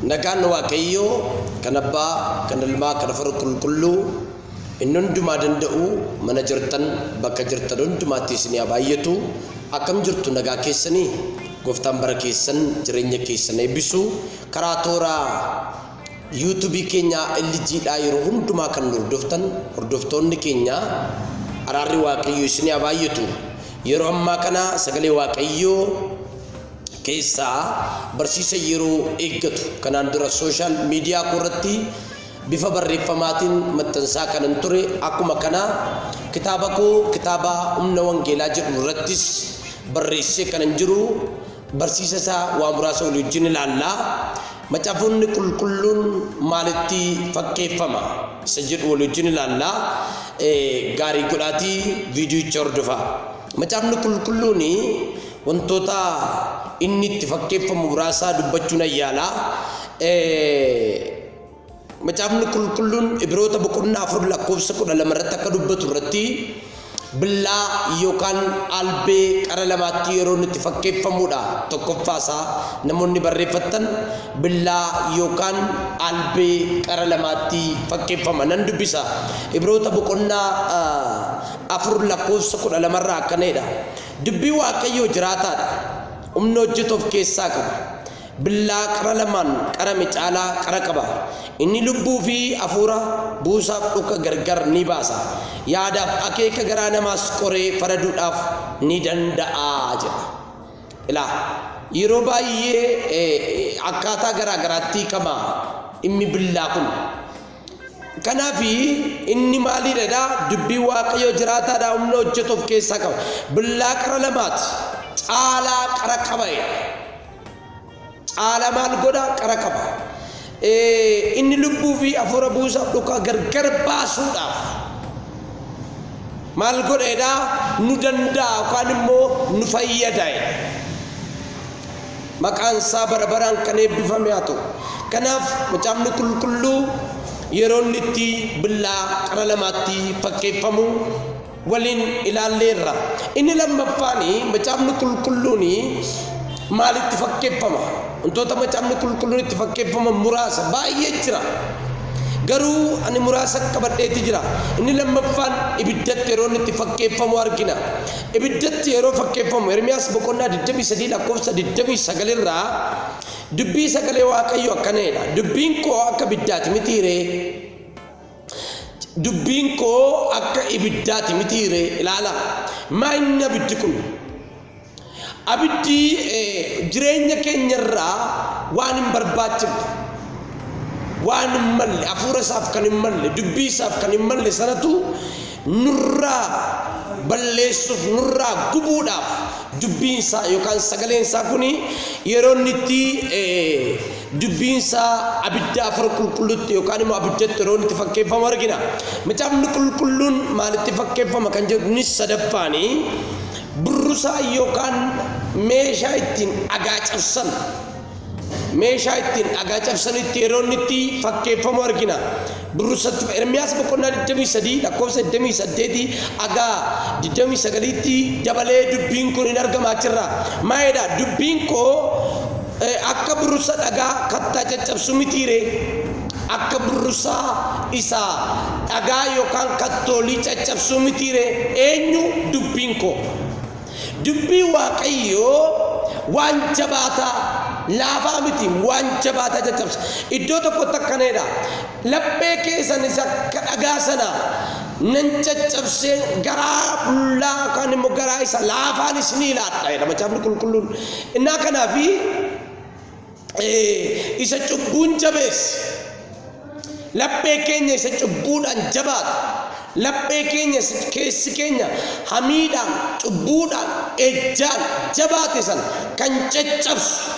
Nagaan Waaqayyoo kan Abbaa, kan Ilmaa, kan Hafuura Qulqulluu inni hundumaa danda'u mana jirtan bakka jirtan hundumaatti isinii haa baay'atu. Akkam jirtu nagaa keessanii? Gooftaan bara keessan jireenya keessan eebbisu. Karaa toora Yuutubii keenyaa LG dhaa yeroo hundumaa kan nu hordoftan hordoftoonni keenyaa araarri waaqayyoo isin haa baay'atu yeroo ammaa kana sagalee waaqayyoo keessaa barsiisa yeroo eeggatu kanaan dura sooshaal miidiyaa koo irratti bifa barreeffamaatiin maxxansaa kanan ture akkuma kana kitaaba koo kitaaba humna wangeelaa jedhu irrattis barreessee kanan jiru Barsiisa isaa waa muraasa walii wajjin ilaalla. Macaafonni qulqulluun maalitti fakkeeffama? Isa jedhu walii wajjin ilaalla. Gaarii godhaatii viidiyicha hordofaa. Macaafni qulqulluun wantoota inni itti fakkeeffamu muraasaa dubbachuun ayyaala. Macaafni Qulqulluun Ibroota boqonnaa 4 lakkoofsa 12 irratti akka dubbatu irratti billaa yookaan albee qara lamaatti yeroo nutti fakkeeffamudha. Tokkoffaasaa namoonni barreeffattan billaa yookaan albee qara lamaatti fakkeeffama nan dubbisa. Ibroota boqonnaa afur lakkoofsa kudha lamarraa akkana jedha. Dubbii Waaqayyoo jiraataadha. Humna hojjetu of keessaa qaba. Billaa qara lamaan qarame caalaa qara qaba. Inni lubbuu fi hafuura, buusaaf dhukka gargar ni baasa. Yaadaaf akeeka garaa namaas qoree faraduudhaaf ni danda'a jedha. Ilaa, yeroo baay'ee akkaataa garaa garaatti hiikama dhimmi billaa kun. Kanaaf inni maaliidha jedhaa dubbii waaqayyoo jiraataadhaa humna hojjetu of keessaa qaba. Billaa qara lamaati caalaa qara qaba jedha. Caala maal godha? Qara qaba. Inni lubbuu fi hafuura buusaaf dhukaa gargar baasuudhaaf maal godheedha? Nu danda'a yookaan immoo nu fayyada. Maqaan isaa bara baraan kan eebbifame haa ta'u. Kanaaf macaafni qulqulluu yeroo inni itti billaa qara lamaatti fakkeeffamu waliin ilaalleerra. Inni lammaffaan macaafni qulqulluun maalitti fakkeeffama? Wantoota macaafni qulqulluun itti fakkeeffaman muraasa baay'ee jira. Garuu ani muraasa qabadheeti jira. Inni lammaffaan ibiddatti yeroo inni itti fakkeeffamu argina. Ibiddatti yeroo fakkeeffamu Ermiyaas boqonnaa 23 lakkoofsa 29 irraa dubbii sagalee Waaqayyoo akkana jedha. Dubbiin koo akka ibiddaati mitiiree? Dubbiin koo akka ibiddaati mitiiree ilaala. Maa inni abiddi kun? Abiddi jireenya keenyarraa waan hin barbaachifne, waan hin malle, hafuura isaaf kan hin malle, dubbii isaaf kan hin malle sanatu nurraa balleessuuf, nurraa gubuudhaaf dubbiin isaa yookaan sagaleen isaa kun yeroo inni itti Dubbiin isaa abidda afara qulqulluutti yookaan immoo abiddatti yeroo inni itti fakkeeffamu argina. Macaafni qulqulluun maalitti fakkeeffama kan jedhu kunis sadaffaan burrusaa yookaan meeshaa ittiin dhagaa cabsan meeshaa ittiin dhagaa cabsanitti yeroo inni itti fakkeeffamu argina. Durrsattu Ermiyaas boqonnaa 23 lakkoofsa 28 haga 29tti dabalee dubbiin kun in argama achirra. Maal jedha? Dubbiin koo akka burrusa dhagaa kattaa caccabsu mitii ree? Akka burrusa isa dhagaa yookaan kattoolii caccabsuu mitii ree? Eenyu dubbiin koo? Dubbii Waaqayyoo waan jabaataa, laafaa miti, waan jabaataa caccabsa. Iddoo tokkotti akkana jedha, laphee keessan isa akka dhagaa sana nan caccabsee garaa qullaa yookaan immoo garaa isa laafaan isinii laadha jedha macaafni qulqulluun. Innaa kanaafi Ee, isa cubbuun jabeesse. Laphee keenya isa cubbuudhaan jabaate. Laphee keenya isa keessi keenya hamiidhaan, cubbuudhaan, ejjaan jabaate sana kan caccabsu.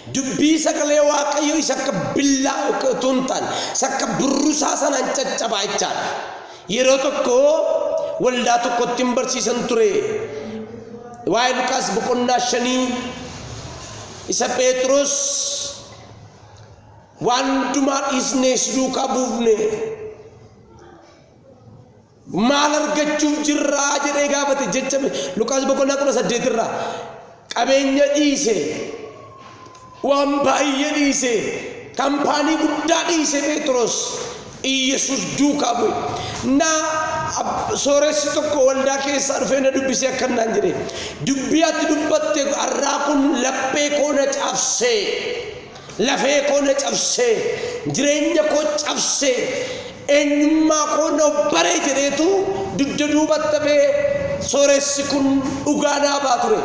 Dubbii sagalee Waaqayyo isa akka billaa utuu hin taane, isa akka burrusaa sanaan caccabaa jechaadha. Yeroo tokko waldaa tokkotti hin barsiisan ture. Waa'ee Luqaas boqonnaa shanii isa Pheexroos waan hundumaa dhiisnee si duukaa buufne maal argachuuf jirraa jedhee gaafate jecha Luqaas boqonnaa kudha saddeet irraa qabeenya dhiise waan baay'ee dhiise kampaanii guddaa dhiise Pheexroos Iyyasuus duukaa bu'e. Na, ab, sooressi tokko waldaa keessaa dhufee na dubbisee akkan naan jedhe. Dubbii ati dubbatte har'aa kun laphee koo na cabsee, lafee koo na cabsee, jireenya koo cabsee, eenyummaa koo na obbaree jedheetu dugda duubatta bee sooressi kun dhugaa naa baa ture.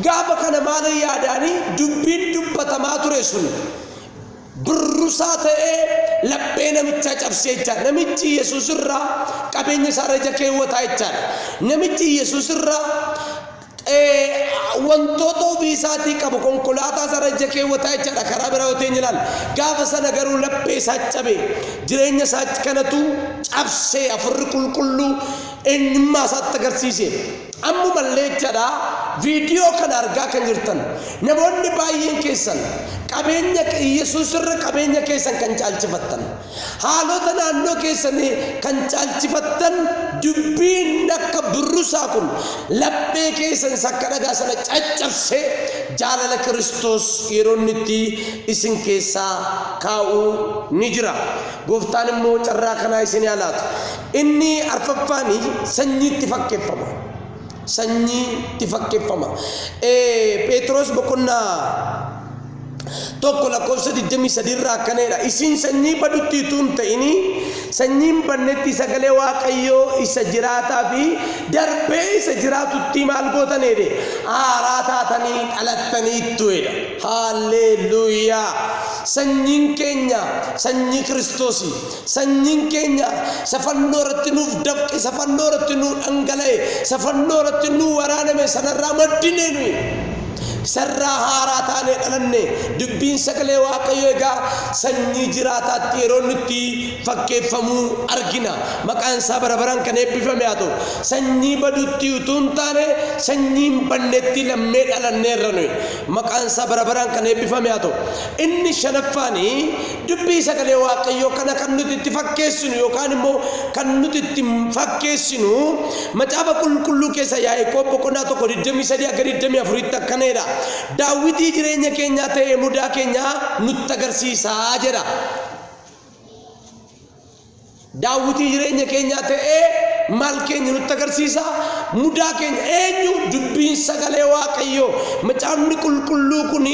Gaafa kana maala yaadaanii dubbiin dubbatamaa ture sun burrusaa ta'ee laphee namichaa cabsee jechaadha. Namichi Yesuus irraa qabeenya isaarra ija keewwataa jechaadha. Namichi Yesuus irraa wantoota ofii isaatii qabu konkolaataa isaarra ija keewwataa jechaadha karaa biraa yoo ta'een ilaalla. Gaafa sana garuu laphee isaa cabe jireenya isaa kanatu cabsee afurri qulqulluu eenyummaa isaatti agarsiise. Ammumallee jechaadha viidiyoo kana argaa kan jirtan namoonni baay'een keessan qabeenya Yesuus irra qabeenya keessan kan caalchifattan haalota naannoo keessanii kan caalchifattan dubbiin akka burrusaa kun laphee keessan isa akka dhagaa sana caccabsee jaalala Kiristoos yeroo inni itti isin keessaa kaa'u ni jira. Gooftaan immoo carraa kanaa isin haa laatu. Inni arfaffaani sanyiitti fakkeffama. Sanyiitti fakkeffama. Pheexiroos boqonnaa tokko lakkoofsa 23 irraa akkana jedha. Isin sanyii badutti utuu hin ta'inii sanyiin bannetti sagalee Waaqayyoo isa jiraataa fi darbee isa jiraatutti maal gootan jedhe haaraa taatanii dhalattaniittu jedha. Haalleelluuyaa! Sanyiin keenya sanyii Kiristoosii. Sanyiin keenya isa fannoo irratti nuuf dafqe, isa fannoo irratti nuu dhangala'e, isa fannoo irratti nuu waraaname sanarraa maddinee nuyi. Isarraa haaraa taanee dhalanne. Dubbiin sagalee Waaqayyo egaa sanyii jiraataatti yeroo inni itti fakkeeffamuu argina. Maqaan isaa bara baraan kan eebbifame haa ta'u. Sanyii badutti utuu hin taane sanyii hin bannetti lammee dhalanneerra nuyi. Maqaan isaa bara baraan kan eebbifame haa ta'u. Inni shanaffaanii Dubbii Sagalee Waaqayyoo kana kan nuti itti fakkeessinu yookaan immoo kan nuti itti fakkeessinu Macaafa Qulqulluu keessa Yaaqoob boqonnaa tokko 23 akka 24tti akkana jedha. Daawwitii jireenya keenyaa ta'ee mudaa keenyaa nutti agarsiisaa jedha. Daawwitii jireenya keenyaa ta'ee maal keenya nutti agarsiisa? Mudaa keenya eenyu? Dubbiin sagalee Waaqayyoo. Macaafni qulqulluu kun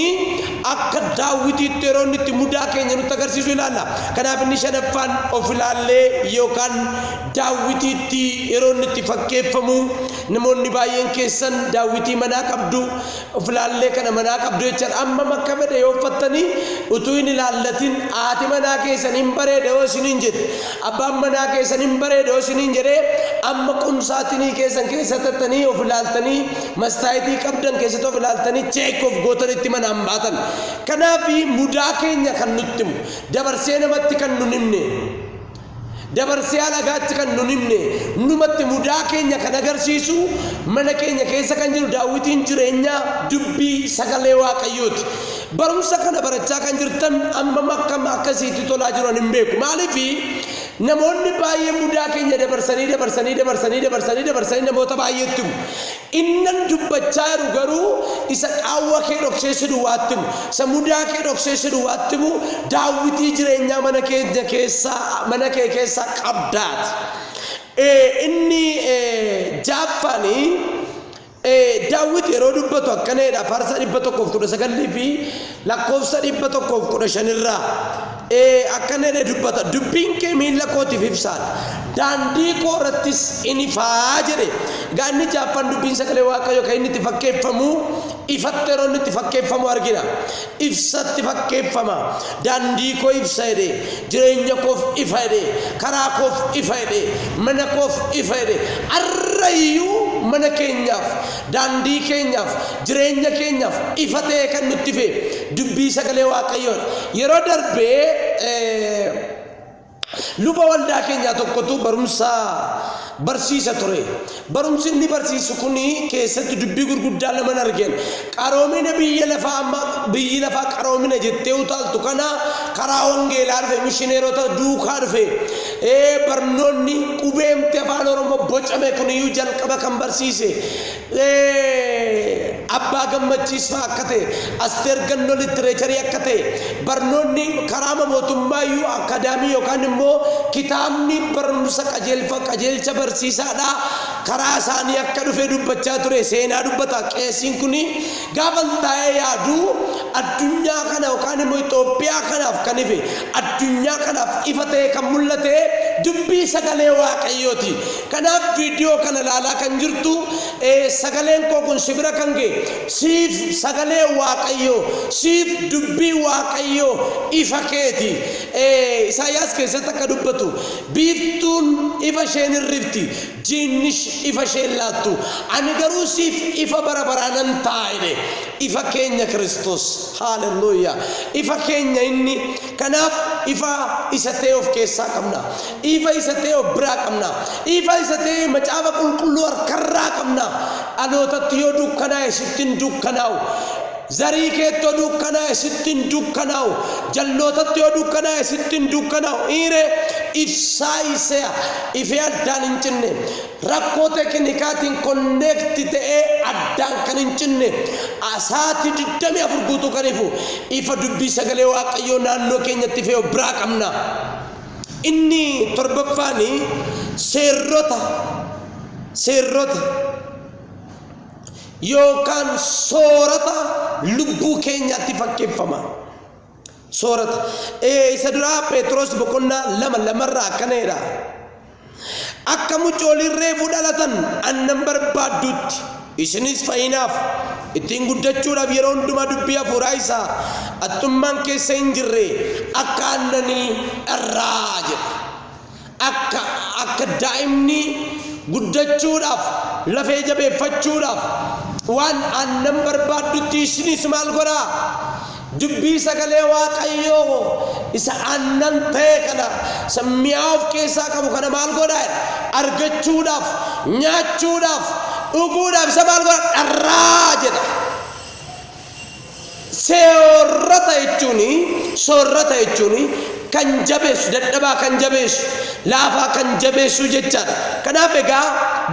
akka daawwitiitti yeroo inni itti mudaa keenya nutti agarsiisu ilaalla. Kanaaf inni shanaffaan of ilaallee yookaan daawwitiitti yeroo inni itti fakkeeffamu namoonni baay'een keessan daawwitii manaa qabdu, Of ilaallee kana manaa qabdu jechan ammam akka fedhe yoo uffattanii utuu hin ilaallatin haati manaa keessan hin bareeda yoo isiniin jette abbaan manaa keessan hin bareeda yoo isiniin jedhee amma qumsaatinii keessan keessa tattanii of ilaaltanii mastaayitii qabdan keessatti of ilaaltanii cheek of gootanitti manaan baatan kanaaf mudaa keenya kan nutti himu dabarsee namatti kan nun himne Dabarsee alagaatti kan nun himne numatti mudaa keenya kan agarsiisu mana keenya keessa kan jiru daawwitiin jireenyaa dubbii sagalee waaqayyooti. Barumsa kana barachaa kan jirtan ammam akkam akka isiitti tolaa jiru ani hin beeku. Maaliifi namoonni baay'ee mudaa keenya dabarsanii dabarsanii dabarsanii dabarsanii dabarsanii namoota baay'eetti himu. Innan dubbachaa jiru garuu isa qaawwa kee dhoksee si duwwaatti himu, isa mudaa kee dhoksee si duwwaatti himu, daawwitii jireenyaa mana keenya keessaa, mana kee keessaa qabdaati. Ee, inni ee, jaaffaan ee, daawwiti yeroo dubbatu akkana jedha, faarsaa 119 fi Lakkoofsa 115 irraa ee, akkana jedhee dubbata, dubbiin kee miilla kootiif ibsaadha, daandii koo irrattis in ifa jedhe. Egaa inni jaaffaan dubbiin sagalee Waaqayyoo kan inni itti fakkeeffamu ifatti yeroo inni itti fakkeeffamu argina. Ibsatti fakkeeffama. Daandii koo ibsa jedhe, jireenya koof ifa jedhe, karaa koof ifa jedhe, mana koof ifa jedhe. Har'a iyyuu mana keenyaaf, Daandii keenyaaf, jireenya keenyaaf ifa ta'ee kan nutti fe dubbii sagalee Waaqayyoodha. Yeroo darbe luba waldaa keenyaa tokkotu barumsa barsiisa ture. Barumsi inni barsiisu kun keessatti dubbii gurguddaa laman argeen qaroomina biyya lafaa amma biyyi lafaa qaroomina jettee utaaltu kana karaa wangeelaa dhufe mishineerota duukaa dhufe Ee, barnoonni qubeemti Afaan Oromoo bocame kun iyyuu jalqaba kan barsiise, ee, Abbaa Gammachiis fa'a akka ta'e, Asteer Gannoo Littireecharii akka ta'e, barnoonni karaama mootummaa iyyuu akkaadaamii yookaan immoo kitaabni barumsa qajeelfa, qajeelcha barsiisaadhaa karaa isaanii akka dhufe dubbachaa ture seenaa dubbata. Qeesiin kun Gaafan taa'ee yaadu addunyaa kana yookaan immoo Itoophiyaa kanaaf kan ife, addunyaa kanaaf ifa ta'ee kan mul'ate dubbii sagalee Waaqayyooti. Kanaaf viidiyoo kana ilaalaa kan jirtu sagaleen koo kun si bira kan ga'e siif sagalee Waaqayyoo, siif dubbii Waaqayyoo ifa keeti. Isaayyaas keessatti akka dubbatu biiftuun ifa isheen hin rifti, Diinnis ifa ishee hin laattu. Ani garuu siif ifa bara baraa nan ta'a jedhe. Ifa keenya Kiristoos. Haalelluuyyaa! Ifa keenya inni. Kanaaf ifa isa ta'e of keessaa qabna. Ifa isa ta'e of biraa qabna. Ifa isa ta'e macaafa qulqulluu harkarraa qabna. Dhalootatti yoo dukkanaa'e sitti hin dukkanaa'u. Zarii keetti yoo dukkanaa'e sitti hin dukkanaa'u, jallootatti yoo dukkanaa'e sitti hin dukkanaa'u. Iiree ibsaa iseya ifee addaan hin cinne. Rakkoo tekinikaatiin konneekti ta'ee addaan kan hin cinne, sa'aatii 24 guutuu kan ifu ifa dubbii sagalee Waaqayyoo naannoo keenyatti ifee of biraa qabna. Inni torbaffaani seerrota seerrota. yookaan soorata lubbuu keenyaatti fakkeeffama. Soorata. Ee, isa duraa Pheexroos boqonnaa lama lamarraa akkana jedha. Akka mucooliin reefu dhalatan aannan barbaadduutti isinis fayyinaaf ittiin guddachuudhaaf yeroo hundumaa dubbii hafuuraa isaa haxxummaan keessa hin jirre akka aannanii dharraa jedha. Akka, akka daa'imni guddachuudhaaf, lafee jabeeffachuudhaaf waan aannan barbaaddutti ishiniis maal godhaa? Dubbii sagalee Waaqayyoo isa aannan ta'e kana, isa mi'aa of keessaa qabu kana maal godhaa? Argachuudhaaf, nyaachuudhaaf, dhuguudhaaf isa maal godhaa? Dharraa jedha. Seorrata jechuun, soorrata jechuun, kan jabeessu, dadhabaa kan jabeessu, laafaa kan jabeessu jechaa dha. Kanaaf egaa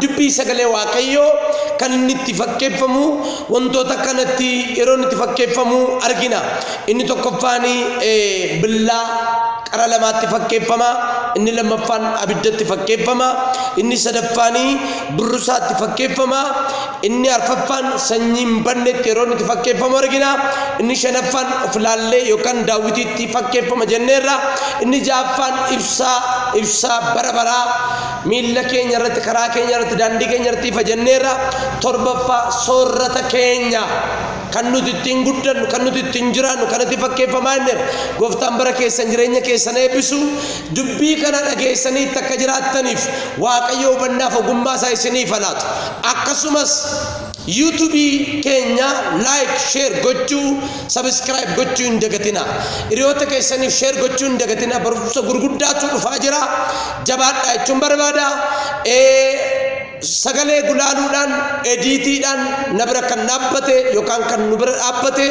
dubbii sagalee Waaqayyoo kan inni itti fakkeeffamu wantoota kanatti yeroo inni itti fakkeeffamu argina. Inni tokkoffaan billaa qara lamaatti fakkeeffama, inni lammaffaan abiddatti fakkeeffama, inni sadaffaan burrusaatti fakkeeffama, Inni arfaffaan sanyii hin bannetti yeroo inni itti fakkeeffamu argina. Inni shanaffaan of ilaallee yookaan daawwitiitti fakkeeffama jenneerra. Inni ja'affaan ibsaa ibsaa bara baraa miilla keenya irratti karaa keenya irratti daandii keenya irratti ifa jenneerra. Torbaffaa soorrata keenya kan nuti ittiin guddannu kan nuti ittiin jiraannu kan itti fakkeeffamaa jenneerra. Gooftaan bara keessan jireenya keessan eebbisu dubbii kana dhageessanii itti akka jiraattaniif Waaqayyo hubannaaf ogummaa isaa isiniif haa laatu. Akkasumas YouTube keenya like share gochuu subscribe gochuu hin dagatina. Hiriyoota keessaniif share gochuu hin dagatina. Barumsa gurguddaatu dhufaa jira. Jabaadhaa jechuun barbaada. Sagalee gulaaluudhaan ediitiidhaan na bira kan dhaabbate yookaan kan nu bira dhaabbate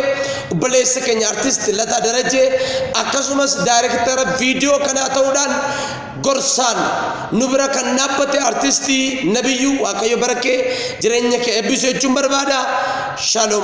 obboleessa keenya artisti Lataa Darajee akkasumas daayirektara viidiyoo kanaa ta'uudhaan gorsaan nu bira kan dhaabbate artistii Nabiyyuu Waaqayyo bara kee jireenya kee eebbisu jechuun barbaada. Shalom.